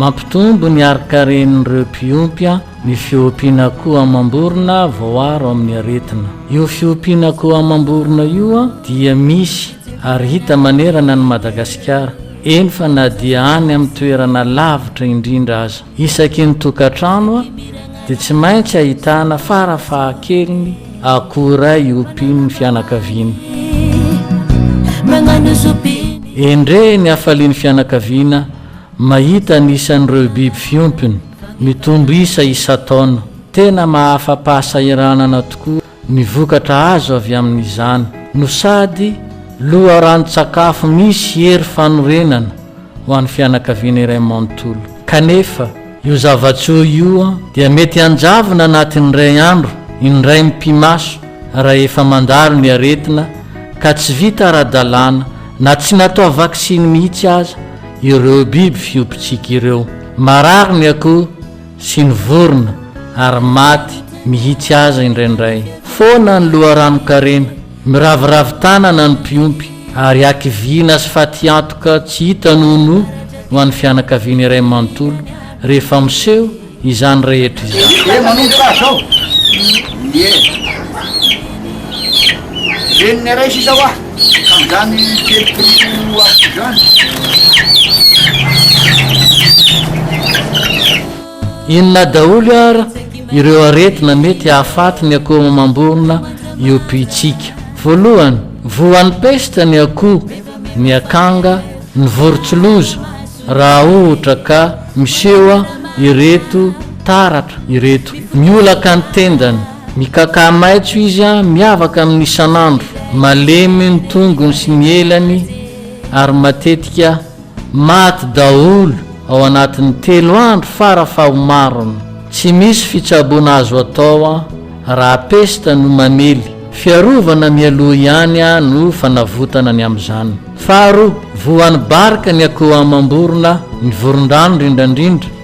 Mampitombo ny harin-karen'ireo mpiompy ny fiompian'akoho amam-borona voaaro amin'ny aretina. Io fiompian'akoho amam-borona io dia misy ary hita manerana an'i Madagasikara, eny fa na dia any amin'ny toerana lavitra indrindra aza. Isaky ny tokantrano dia tsy maintsy ahitana farafahakeliny akoho iray iompian'ny fianakaviana. Endrey ny hafalian'ny fianakaviana mahita ny isan'ireo biby fiompiny mitombo isa isan-taona. Tena mahafa-pahasahiranana tokoa Ny vokatra azo avy amin'izany no sady loharanon-tsakafo misy hery fanorenana ho an'ny fianakaviana iray manontolo. Kanefa, io zava-tsoa io dia mety hanjavona anatin'ny iray andro, indray mipi-maso, raha efa mandalo ny aretina ka tsy vita ara-dalàna na tsy natao vaksiny mihitsy aza ireo biby fiompintsika ireo. Marary ny akoho sy ny vorona ary maty mihitsy aza indraindray. Foana ny loharanon-karena, miraviravy tanana ny mpiompy ary hakiviana sy fatiantoka tsy hita nonoa ho an'ny fianakaviana iray manontolo rehefa miseho izany rehetra izany. Ka zany telopolo Aout izany? Inona daholo ara ireo aretina mety hahafaty ny akoho mamamborona io puits-tsika? Voalohany, voan'ny pesta ny akoho, ny akanga, ny vorontsiloza raha ohtra ka misehoa ireto taratra ireto, miolaka ny tendany, Mikakà maitso izy a miavaka amin'ny isan'andro, malemy ny tongony sy ny elany ary matetika maty daholo ao anatin'ny telo andro fara fahomarony. Tsy misy fitsaboana azo atao a raha pesta no mamely, fiarovana mialoha ihany a no fanavotana ny amin'izany. Faharoa, voan'ny barika ny akoho amam-borona, ny vorondrano rindrandrindra,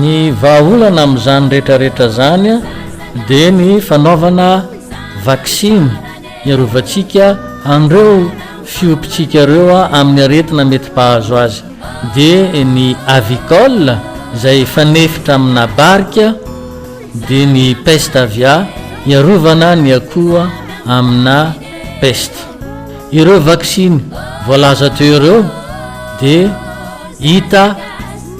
Ny vahaolana amin'izany rehetrarehetra izany dia ny fanaovana vaksiny hiarovantsika an'ireo fiompintsika ireo amin'ny aretina mety mpahazo azy dia ny Avicol izay fanefitra amina barika dia ny Pest Avia hiarovana ny akoho amina pesta. Ireo vaksiny voalaza teo ireo dia hita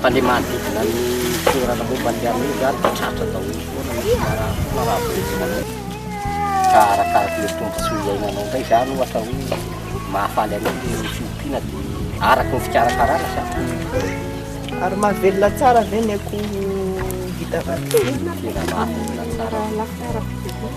Fa le manodidina ny toerana momba ny armée zany de tratra daholo foana ny fiarahana raha velona anao ka arakaraky le tombontsoa iainanao ndray zany ohatra hoe mahafaly anao le fiompiana de araky ny fikarakarana sa Ary mahavelona tsara ve ny akoho vita vaky? Tena mahavelona tsara.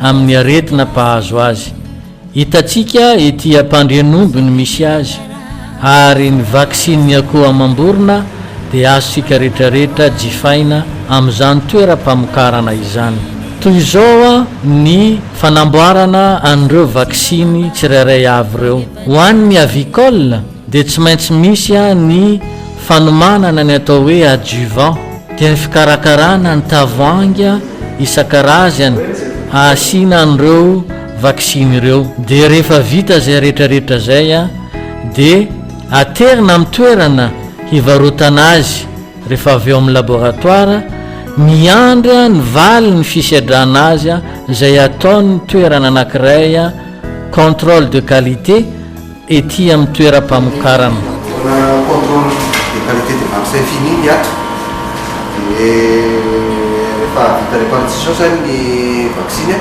amin'ny aretina mpahazo azy. Hitantsika ety Ampandrianomby no misy azy ary ny vaksinin'ny akoho amam-borona dia azontsika rehetrarehetra jifaina amin'izany toeram-pamokarana izany. Toy izao ny fanamboarana an'ireo vaksiny tsirairay avy ireo, ho an'ny avicole, dia tsy maintsy misy ny fanomanana ny atao hoe adjuvant, dia ny fikarakarana ny tavoahangy isan-karazany hahasiana an'ireo vaksiny ireo. Dia rehefa vita izay rehetrarehetra izay dia aterina amin'ny toerana hivarotana azy rehefa avy ao amin'ny laboratoara, miandry ny valin'ny fisedrana azy izay ataon'ny toerana anankiray contrôle de qualité, Ety amin'ny toeram-pamokarana. Raha contrôle de qualité de vaccin fini ny ato dia rehefa vita répartition izany ny vaksiny dia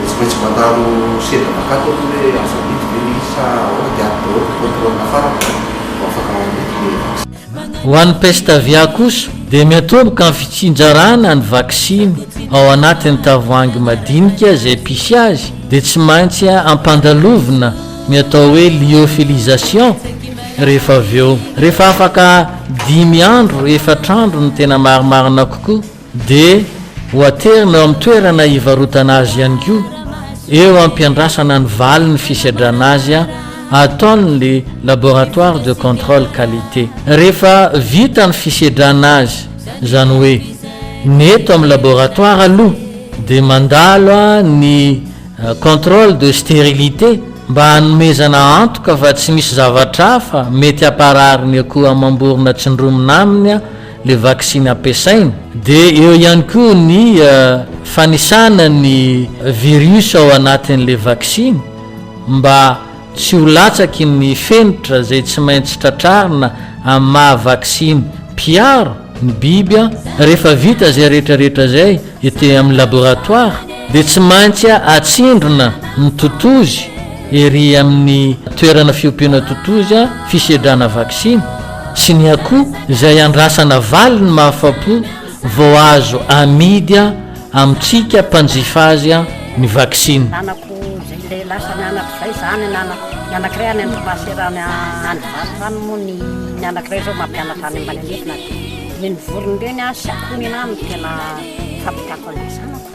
tsy maintsy mandalo sendra mankato aloha hoe azo amidy ve ilay izy sa ahoana dia ato daholo ny contrôle farany vao afaka amidy ilay vaksiny. Ho an'ny peste aviaire kosa dia miantomboka amin'ny fitsinjarana ny vaksiny ao anatin'ny tavoahangy madinika izay mpisy azy dia tsy maintsy ampandalovina ny atao hoe lyophilisation rehefa avy eo rehefa afaka dimy andro, efatra andro ny tena marimarina kokoa. dia ho aterina eo amin'ny toerana hivarotana azy ihany koa eo am-piandrasana ny valin'ny fisedrana azy ataon'ny Laboratoire de Contrôle Qualité. Rehefa vita ny fisedrana azy, izany hoe ny eto amin'ny laboratoire aloha dia mandalo ny contrôle de stérilité mba hanomezana antoka fa tsy misy zavatra hafa mety hamparary ny akoho amam-borona tsindromina aminy le vaksiny ampiasaina, dia eo ihany koa ny fanisana ny virus ao anatin'le vaksiny mba tsy ho latsaky ny fenitra izay tsy maintsy tratrarina amin'ny maha vaksiny mpiaro ny biby an! Rehefa vita izay rehetrarehetra izay Ety amin'ny laboratoire dia tsy maintsy atsindrona ny totozy ery amin'ny toerana fiompiana totozy fisedrana vaksiny sy ny akoho izay andrasana valiny mahafapo vao azo amidy amintsika mpanjifa azy ny vaksiny. Nanako izay ilay lasa ny anako izay za ny anako ny anankiray any Andromasera any Vato any moa ny ny anankiray zao mampianatra any Malalevina dia Ireny vorona ireny sy akoho ireny no tena fampitako an'ilay zanako.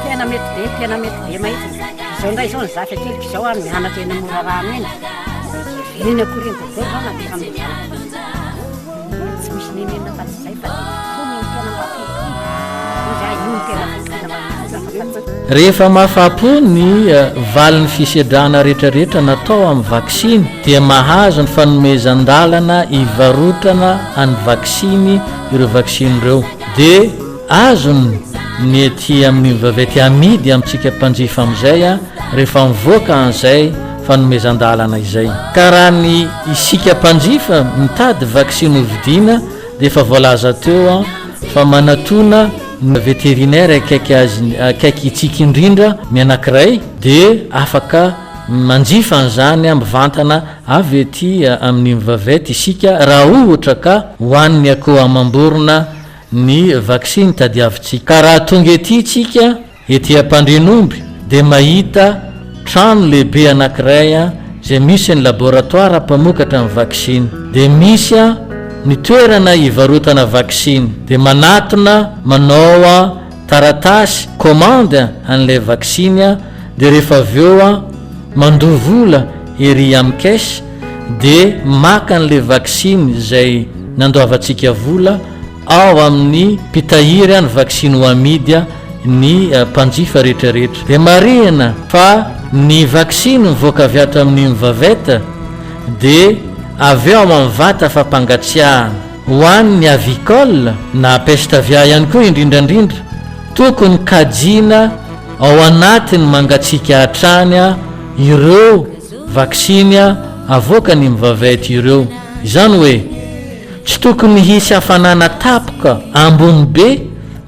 Tena mety be, tena mety be mahitsy. Izao indray izao ny zaza keliko izao mianatra eny Morarano eny. Ireny akoho ireny daholo izao no ampiasain'ilay zanako. Tsy misy nenenina afa-tsy izay. Rehefa mahafapo ny valin'ny fisedrana rehetrarehetra natao amin'ny vaksiny dia mahazo ny fanomezan-dalana hivarotana an'ny vaksiny ireo vaksiny ireo dia azony ny ety amin'ny vaventy amidy amintsika mpanjifa amin'izay rehefa mivoaka an'izay fanomezan-dalana izay ka raha ny isika mpanjifa mitady vaksiny hovidiana dia efa voalaza teo an fa manatona ny vétérinaire akaiky azy akaiky itsiky indrindra ny anakiray dia afaka manjifa an'izany mivantana avy ety amin'ny mvvet isika raha ohatra ka ho an'ny akoho amam-borona ny vaksiny tadiavintsika ka raha tonga ety isika Ety Ampandrianomby dia mahita trano lehibe anankiray izay misy ny laboratoara mpamokatra ny vaksiny. Dia misy ny toerana hivarotana vaksiny. Dia manatona manao taratasy commande an'ilay vaksiny dia rehefa avy eo mandoa vola ery amin'ny caisse dia maka an'ilay vaksiny izay nandoavantsika vola Ao amin' ny mpitahiry an' ny vaksiny ho amidy ny mpanjifa rehetrarehetra dia marihina fa ny vaksiny mivoaka avy ato amin' ny Mvavet dia avy ao amin' ny vata fampangatsiahana ho an' ny Avicol na peste aviaire ihany koa indrindraindrindra tokony kajiana ao anatin' ny mangatsiaka hatrany ireo vaksiny avoakan' i Mvavet ireo. Izany hoe. Tsy tokony hisy hafanana tapoka ambony be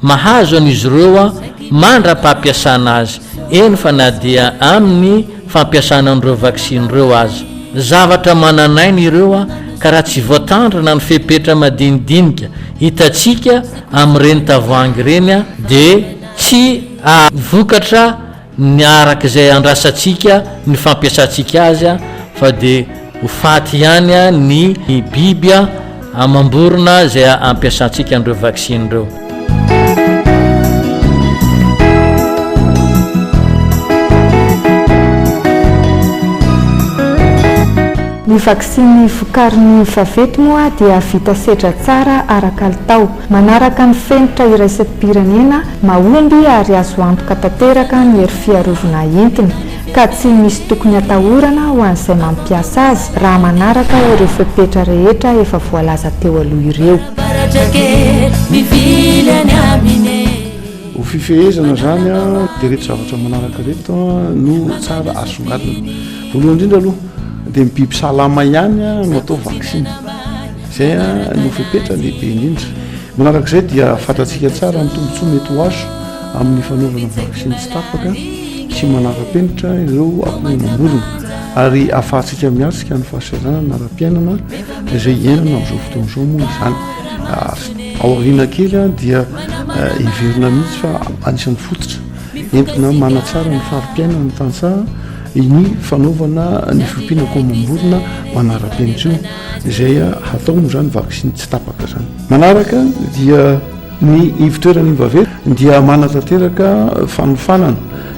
mahazo an'izy ireo mandra-pampiasana azy, eny fa na dia amin'ny fampiasana an'ireo vaksiny ireo aza. Zavatra manan'aina ireo ka raha tsy voatandrina ny fepetra madinidinika hitantsika amin'ireny tavoahangy ireny dia tsy hahavokatra ny araka izay andrasantsika ny fampiasantsika azy fa dia ho faty ihany ny biby amam-borona izay ampiasantsika an'ireo vaksiny ireo. Ny vaksiny vokarin'ny Favety moa dia vita sedra tsara ara-kalitao. Manaraka ny fenitra iraisam-pirenena Mahomby ary azo antoka tanteraka ny hery fiarovna entiny ka tsy misy tokony atahorana ho an'izay mampiasa azy raha manaraka ireo fepetra rehetra efa voalaza teo aloha ireo. Ho fifehezana izany dia ireto zavatra manaraka ireto no tsara asongadina. Voalohany indrindra aloha dia ny biby salama ihany no atao vaksiny. Izay no fepetra lehibe indrindra. Manarak'izay dia fantatsika tsara ny tombontsoa mety ho azo amin'ny fanaovana vaksiny tsy tapaka sy manara-penitra ireo akoho mamorona ary ahafahantsika miatrika ny fahasahiranana ara-piainana izay iainana amin'izao fotoana izao moa izany. Ah, ao aoriana kely ah, dia eh, heverina mihitsy fa anisan'ny fototra entina manatsara ny fari-piainana ny tantsaha ny fanaovana ny fiompiana akoho mamorona manara-penitra io. izay hataony izany vaksiny tsy tapaka izany. Manaraka dia ny ivotoeran'ny vaventy dia manatanteraka fanofanana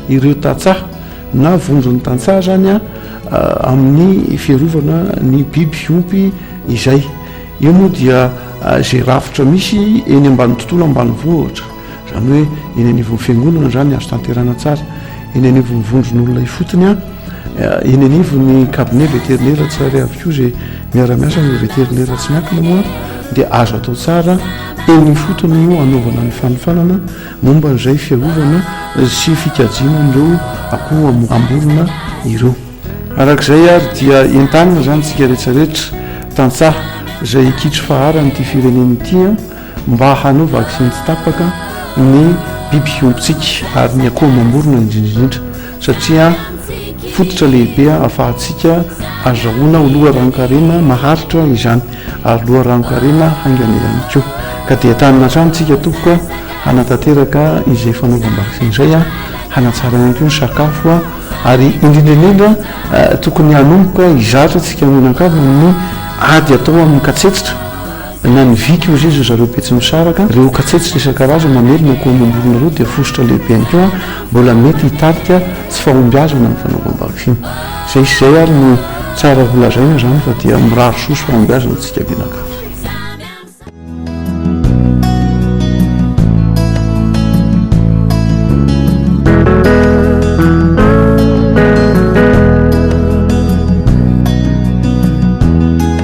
ireo tantsaha na vondron'ny tantsaha izany a amin'ny fiarovana ny biby fiompy izay. Io moa dia izay rafitra misy eny ambany tontolo ambanivohitra. Izany hoe eny anivon'ny fiangonana izany azo tanterana tsara, eny anivon'ny vondron'olona ifotony an, eh, eny anivon'ny kabine veterinera tsirairay avy koa izay miara-miasa amin'ireo veterinera tsy miankina moa dia azo atao tsara eny ifotony no anaovana ny fanofanana momba an'izay fiarovana sy fikajiana an'ireo akoho ambolona ireo. Arak'izay ary dia entanina izany tsika rehetra rehetra tantsaha izay kitro faharan'ity firenena ity an, mba hanao vaksiny tsy tapaka ny biby fiompitsika ary ny akoho amam-borona indrindra indrindra satria fototra lehibe ahafahantsika azahoana ho loharanon-karena maharitra izany ary loharanon-karena haingana ihany koa ka dia tanina hatrany isika tompoko hanatanteraka izay fanaovam-baksiny izay a hanatsara ihany koa ny sakafo a ary indrindra indrindra tokony hanomboka hizatra isika mianakavy amin'ny ady atao amin'ny katsetsitra Na ny vy koa zay, zao zareo Betsimisaraka, reo katsetsa isan-karazany mamely na koa mamorona reo dia fositra lehibe ihany koa mbola mety hitarika tsy fahombiazana ny fanaovam-bakifiny. Zay sy zay ary no tsara ho lazaina zany fa dia mirary soa sy fahombiazana antsika mianakavy.